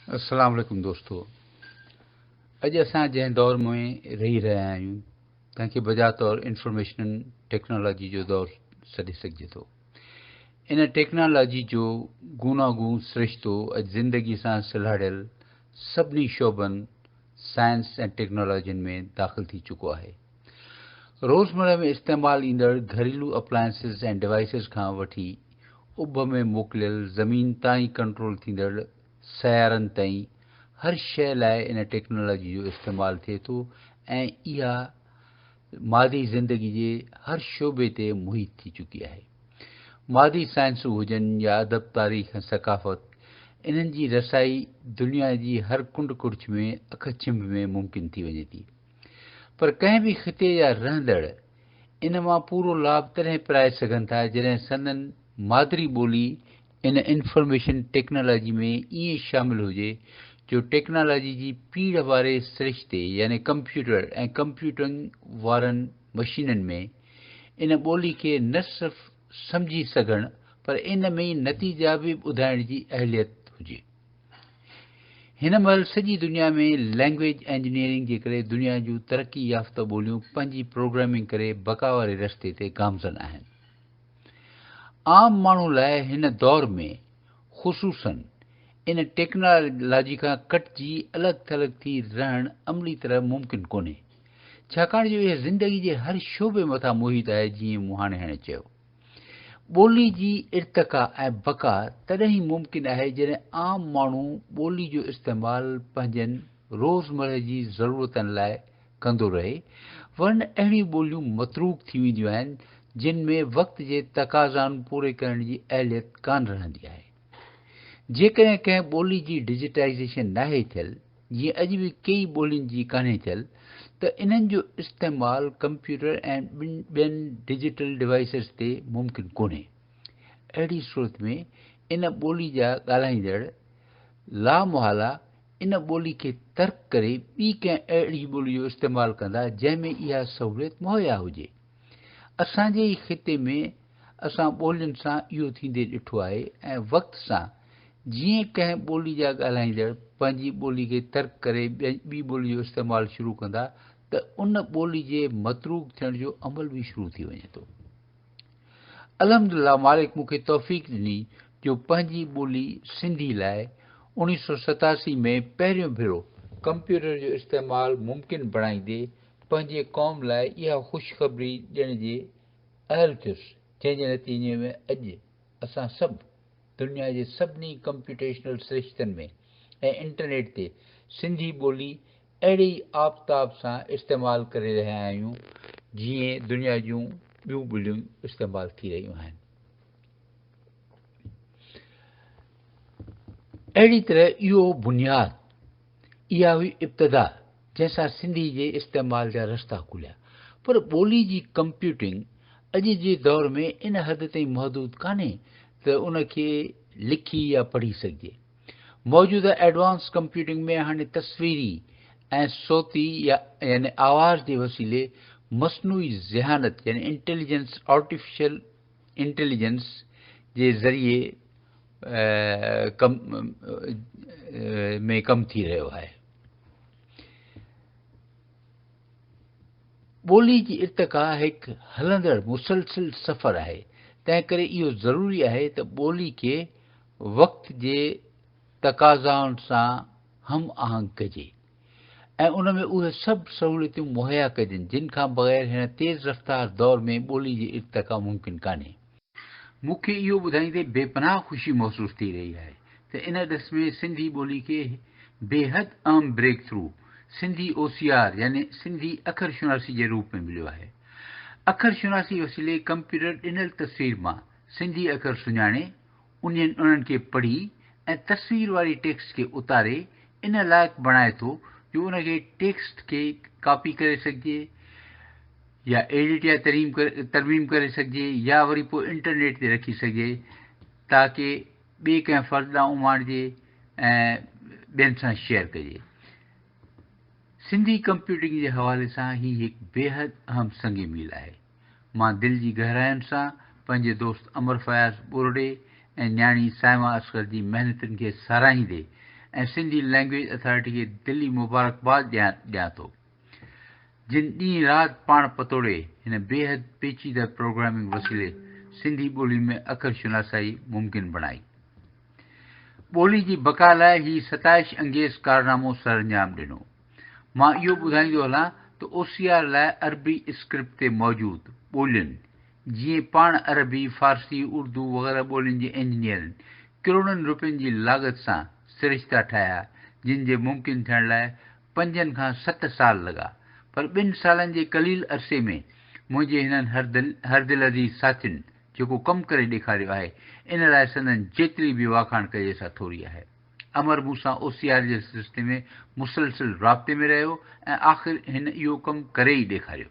السلام عليڪم دوستو اڄ اسان جنهن دور ۾ رهي رهيا آهيون تنهن کي بجا طور انفارميشن ٽيڪنالاجي جو دور سڏي سگهجي ٿو ان ٽيڪنالاجي جو گونا گون سرشتو اڄ زندگي سان سلهاڙيل سڀني شعبن سائنس ۽ ٽيڪنالاجين ۾ داخل ٿي چڪو آهي روزمره ۾ استعمال ايندڙ گهريلو اپلائنسز ۽ ڊوائسز کان وٺي اڀ ۾ موڪليل زمين تان ئي ڪنٽرول ٿيندڙ سيارن تائين هر شيء لاء ان ٽيڪنالاجي جو استعمال ٿئي ٿو ۽ اها مادي زندگي جي هر شعبي تي محيط ٿي چڪي آهي. مادي سائنسون هجن يا ادب، تاريخ ۽ ثقافت انهن جي رسائي دنيا جي هر ڪنڊ ڪڙڇ ۾ اک ڇنڀ ۾ ممڪن ٿي وڃي ٿي. پر ڪنهن به خطي جا رهندڙ ان مان پورو لاڀ تڏهن پرائي سگهن ٿا جڏهن سندن مادري ٻولي ان انفارميشن ٽيڪنالاجي ۾ ائين شامل هجي جو ٽيڪنالاجي جي پيڙهه واري سرشتي يعني ڪمپيوٽر ۽ ڪمپيوٽنگ وارن مشينن ۾ ان ٻولي کي نه صرف سمجهي سگهڻ پر ان ۾ ئي نتيجا به ٻڌائڻ جي اهليت هجي. هن مهل سڄي دنيا ۾ لينگويج انجنيئرنگ جي ڪري دنيا جون ترقي يافته ٻوليون پنهنجي پروگرامنگ ڪري بقا واري رستي تي گامزن آهن. عام ماڻهو لاء هن دور ۾ خصوصن ان ٽيڪنالاجي کان ڪٽجي الڳ ٿلڳ ٿي رهڻ عملي طرح ممڪن ڪونهي ڇاڪاڻ جو اها زندگي جي هر شعبي مٿان محيط آهي جيئن مون هاڻي هاڻي چيو. ٻولي جي ارتقا ۽ بقا تڏهن ئي ممڪن آهي جڏهن عام ماڻهو ٻولي جو استعمال پنهنجن روزمرهه جي ضرورتن لاء ڪندو رهي ورنه اهڙيون ٻوليون متروڪ ٿي وينديون آهن جن ۾ وقت جي تقاضائن پوري ڪرڻ جي اهليت ڪانه رهندي آهي جيڪڏهن ڪنهن ٻولي جي ڊجيٽائيزيشن ناهي ٿيل جيئن اڄ به ڪيئي ٻولين جي ڪانهي چل ته انهن جو استعمال ڪمپيوٽر ۽ ٻين ڊجيٽل ڊوائيسز تي ممڪن ڪونهي. اهڙي صورت ۾ ان ٻولي جا ڳالهائيندڙ لامحاله ان ٻولي کي ترڪ ڪري ٻي ڪنهن اهڙي ٻولي جو استعمال ڪندا جنهن ۾ اها سهوليت مهيا هجي. اسان جي ئي خطي ۾ اسان ٻولين سان اهو ٿيندي ڏٺو آهي ۽ وقت سان جيئن ڪنهن ٻولي جا ڳالهائيندڙ پنهنجي ٻولي کي ترڪ ڪري ٻي ٻولي جو استعمال شروع ڪندا ته ان ٻولي جي متروڪ ٿيڻ جو عمل به شروع ٿي وڃي ٿو. الحمدلله مالڪ مون کي توفيق ڏني جو پنهنجي ٻولي سنڌي لاء اوڻيهه سؤ ستاسي ۾ پهريون ڀيرو ڪمپيوٽر جو استعمال ممڪن بڻائيندي پنهنجي قوم لاء اها خوشخبري ڏيڻ جي اهل ٿيس، جنهن جي نتيجي ۾ اڄ اسان سڀ دنيا جي سڀني ڪمپيوٽيشنل سرشتن ۾ ۽ انٽرنيٽ تي سنڌي ٻولي اهڙي ئي آفتاب سان استعمال ڪري رهيا آهيون، جيئن دنيا جون ٻيون ٻوليون استعمال ٿي رهيون آهن. اهڙي طرح اهو بنياد اها هئي ابتدا جنهن سان سنڌي جي استعمال جا رستا کليا. پر ٻولي جي ڪمپيوٽنگ اڄ جي دور ۾ ان حد تائين محدود ڪانهي ته ان کي لکي يا پڙهي سگهجي. موجوده ايڊوانس ڪمپيوٽنگ ۾ هاڻي تصويري ۽ صوتي يا يعني آواز جي وسيلي مصنوعي ذهانت يعني انٽيليجنس، آرٽيفيشل انٽيليجنس جي ذريعي ۾ ڪم ٿي رهيو آهي. ٻولي جي ارتقا هڪ هلندڙ مسلسل سفر آهي، تنهنڪري اهو ضروري آهي ته ٻولي کي وقت جي تقاضائن سان هم آهنگ ڪجي. ۽ ان ۾ اهي سڀ سهوليتون مهيا ڪجن جن کان بغير هن تيز رفتار دور ۾ ٻولي جي ارتقا ممڪن ڪانهي. مون کي اهو ٻڌائيندي بي پناهه خوشي محسوس ٿي رهي آهي ته ان ڏس ۾ سنڌي ٻولي کي بيحد اهم breakthrough Sindhi O C R يعني سنڌي اکر شناسي جي روپ ۾ مليو آهي. اکر شناسي وسيلي ڪمپيوٽر ڏنل تصوير مان سنڌي اکر سڃاڻي انهن انهن کي پڙهي ۽ تصوير واري ٽيڪسٽ کي اتاري ان لائق بڻائي ٿو جو ان کي ٽيڪسٽ کي ڪاپي ڪري سگهجي يا ايڊٽ يا تريم ترميم ڪري سگهجي يا وري پوء انٽرنيٽ تي رکي سگهجي تاڪه ٻئي ڪنهن فرد ڏانهن اماڻجي ۽ ٻين سان شيئر ڪجي سنڌي ڪمپيوٽنگ جي حوالي سان هي هڪ بيحد اهم سنگ ميل آهي مان دل جي گهراين سان پنهنجي دوست امر فياض ٻورڙي ۽ نياڻي صائمه اصغر جي محنتن کي ساراهيندي ۽ سنڌي لئنگويج اٿارٽي کي دلي مبارڪباد ڏيان ٿو جن ڏينهن رات پاڻ پتوڙي هن بيحد پيچيده پروگرامنگ وسيلي سنڌي ٻولي ۾ اکر شناسائي ممڪن بڻائي ٻولي جي بقا لاء هي ستائش انگيز ڪارنامو سرانجام ڏنو. مان اهو ٻڌائيندو هلان ته او سي آر لاء عربي اسڪرپٽ تي موجود ٻولين جيئن پاڻ عربي، فارسي، اردو وغيره ٻولين جي انجنيئرن ڪروڙن روپين جي لاڳت سان سرشتا ٺاهيا جن جي ممڪن ٿيڻ لاء پنجن کان ست سال لڳا پر ٻن سالن جي قليل عرصي ۾ منهنجي هنن هردلعزيز ساٿين جيڪو ڪم ڪري ڏيکاريو آهي ان لاء سندن جيتري به واکاڻ ڪجي سا ٿوري آهي. امر مون سان او سي آر جي سلسلي ۾ مسلسل رابطي ۾ رهيو ۽ آخر هن اهو ڪم ڪري ئي ڏيکاريو.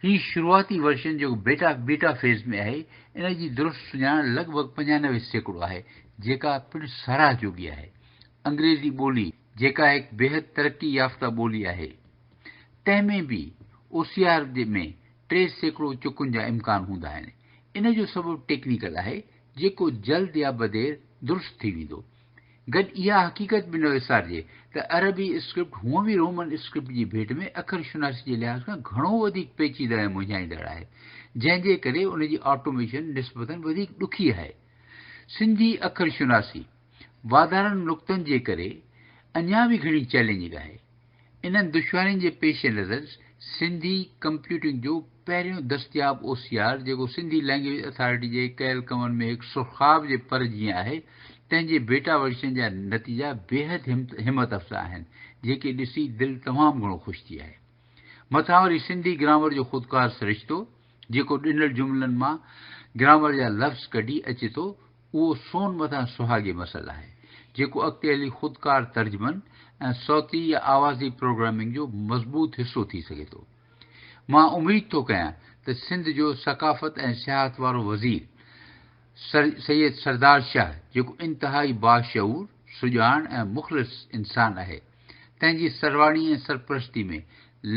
هي شروعاتي ورشن جيڪو بيٽا، Beta، فيز ۾ آهي، ان جي درست سڃاڻ لڳ ڀڳ پنجانوي سيڪڙو آهي، جيڪا پڻ ساراهه جوڳي آهي. انگريزي ٻولي، جيڪا هڪ بيحد ترقي يافته ٻولي آهي، تنهن ۾ به او سي آر ۾ ٽي سيڪڙو چڪن جا امڪان هوندا آهن. ان جو سبب ٽيڪنيڪل آهي، جيڪو جلد يا بدير درست ٿي ويندو. گڏ اها حقيقت به نه وسارجي ته عربي اسڪرپٽ هونء به رومن اسڪرپٽ جي ڀيٽ ۾ اکر شناسي جي لحاظ کان گهڻو وڌيڪ پيچيده ۽ مونجهائيندڙ آهي، جنهن جي ڪري ان جي آٽوميشن نسبتاً وڌيڪ ڏکي آهي. سنڌي اکر شناسي. واڌارن نقطن جي ڪري اڃا به گهڻي چئلينجنگ آهي. انهن دشوارين جي پيش نظر سنڌي ڪمپيوٽنگ جو پهريون دستياب او سي آر جيڪو سنڌي لئنگويج اٿارٽي جي ڪيل ڪمن ۾ هڪ سرخاب جي پر جيئن آهي تنهن جي بيٽا ورشن جا نتيجا بيحد همت افزا آهن جيڪي ڏسي دل تمام گهڻو خوش ٿي آهي. مٿان وري سنڌي گرامر جو خودڪار سرشتو جيڪو ڏنل جملن مان گرامر جا لفظ ڪڍي اچي ٿو اهو سون مٿان سهاڳي مسئل آهي، جيڪو اڳتي هلي خودڪار ترجمن ۽ صوتي يا آوازي پروگرامنگ جو مضبوط حصو ٿي سگهي ٿو. مان اميد ٿو ڪيان ته سنڌ جو ثقافت ۽ سياحت وارو وزير سر سيد سردار شاهه جيڪو انتهائي باشعور، سڄاڻ ۽ مخلص انسان آهي، تنهن جي سرواڻي ۽ سرپرستي ۾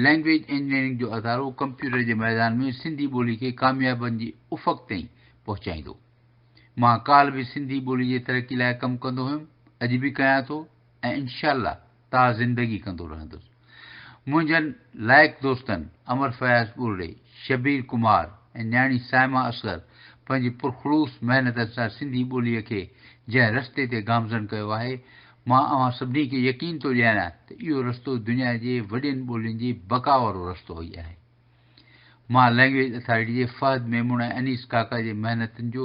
لئنگويج انجنيئرنگ جو ادارو ڪمپيوٽر جي ميدان ۾ سنڌي ٻولي کي ڪاميابين جي افق تائين پهچائيندو. مان ڪالهه به سنڌي ٻولي جي ترقي لاء ڪم ڪندو هيم، اڄ به ڪيان ٿو ۽ انشاء الله تا زندگي ڪندو رهندس. منهنجن لائق دوستن امر فياض ٻرڙي، شبير ڪمار ۽ نياڻي صائمه اصغر پنهنجي پرخلوص محنتن سان سنڌي ٻوليء کي جنهن رستي تي گامزن ڪيو آهي، مان اوهان سڀني کي يقين ٿو ڏياريان ته اهو رستو دنيا جي وڏين ٻولين جي بقا وارو رستو ئي آهي. مان لئنگويج اٿارٽي جي فهد ميمڻ ۽ انيس ڪاڪا جي محنتن جو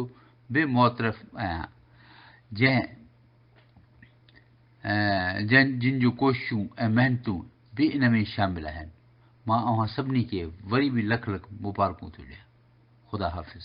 به معترف آهيان جنهن جن جن جون ڪوششون ۽ محنتون به ان ۾ شامل آهن مان اوهان سڀني کي وري به لک لک مبارڪون ٿو ڏيان خدا حافظ.